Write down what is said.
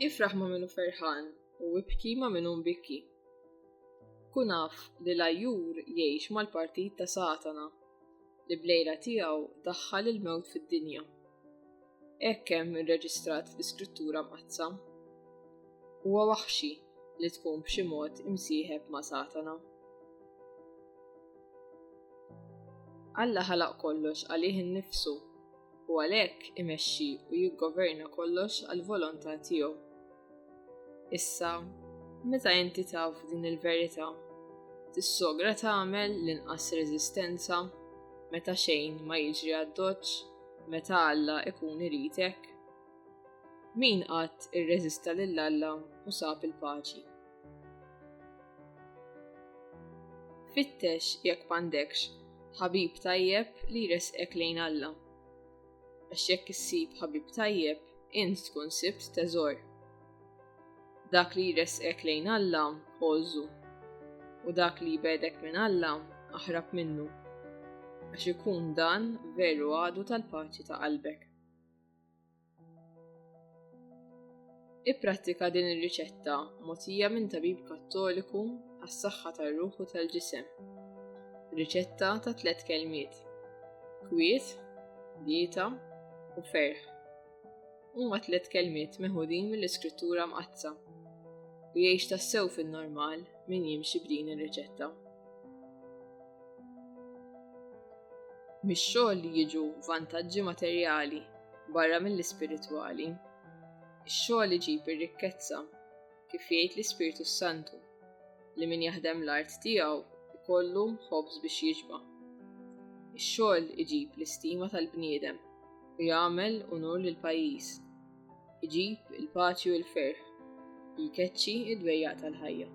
Ifraħ ma' minu ferħan u ibki ma' minu mbikki. Kunaf li l-ajjur jgħix mal-partit ta' Satana li blejla tiegħu daħħal il-mewt fid-dinja. hekk hemm irreġistrat fl-Iskrittura Mqaddsa. Huwa waħxi li tkun b'xi mod imsieħeb ma' Satana. Alla ħalaq kollox għalih innifsu u għalhekk imexxi u jiggoverna kollox għall-volontà tiegħu. Issa, meta inti taf din il-verità, tissogra tagħmel l-inqas reżistenza meta xejn ma jiġri għad-doċċ meta Alla ikun iritek? Min qatt irreżista lil Alla u sab il-paċi? Fittex jekk m'għandekx ħabib tajjeb li jresqek lejn Alla. Għax jekk issib ħabib tajjeb, int tkun sibt teżor. Dak li jressqek lejn Alla, għożu, u dak li jbegħdek minn Alla, aħrab minnu, għax ikun dan veru għadu tal-paċi ta' qalbek. Ipprattika din ir-riċetta mogħtija minn tabib Kattoliku għas-saħħa tar-ruħ u tal-ġisem. Riċetta ta' tliet kelmiet: kwiet, dieta u ferħ. Huma tliet kelmiet meħudin mill-iskrittura mqaddsa u jgħix tassew fin-normal min jimxi b'din ir-riċetta. Mix-xogħol li jiġu vantaġġi materjali barra mill-ispiritwali. Ix-xogħol iġib ir-rikkezza kif jgħid l-Ispirtu s-Santu, li min jaħdem l-art tiegħu jkollu ħobż biex jiġba. Ix-xogħol iġib l-istima tal-bniedem u jagħmel unur lil pajjiż. Iġib il-paċi u l-ferħ, jkeċċi id-dwejjaq tal-ħajja.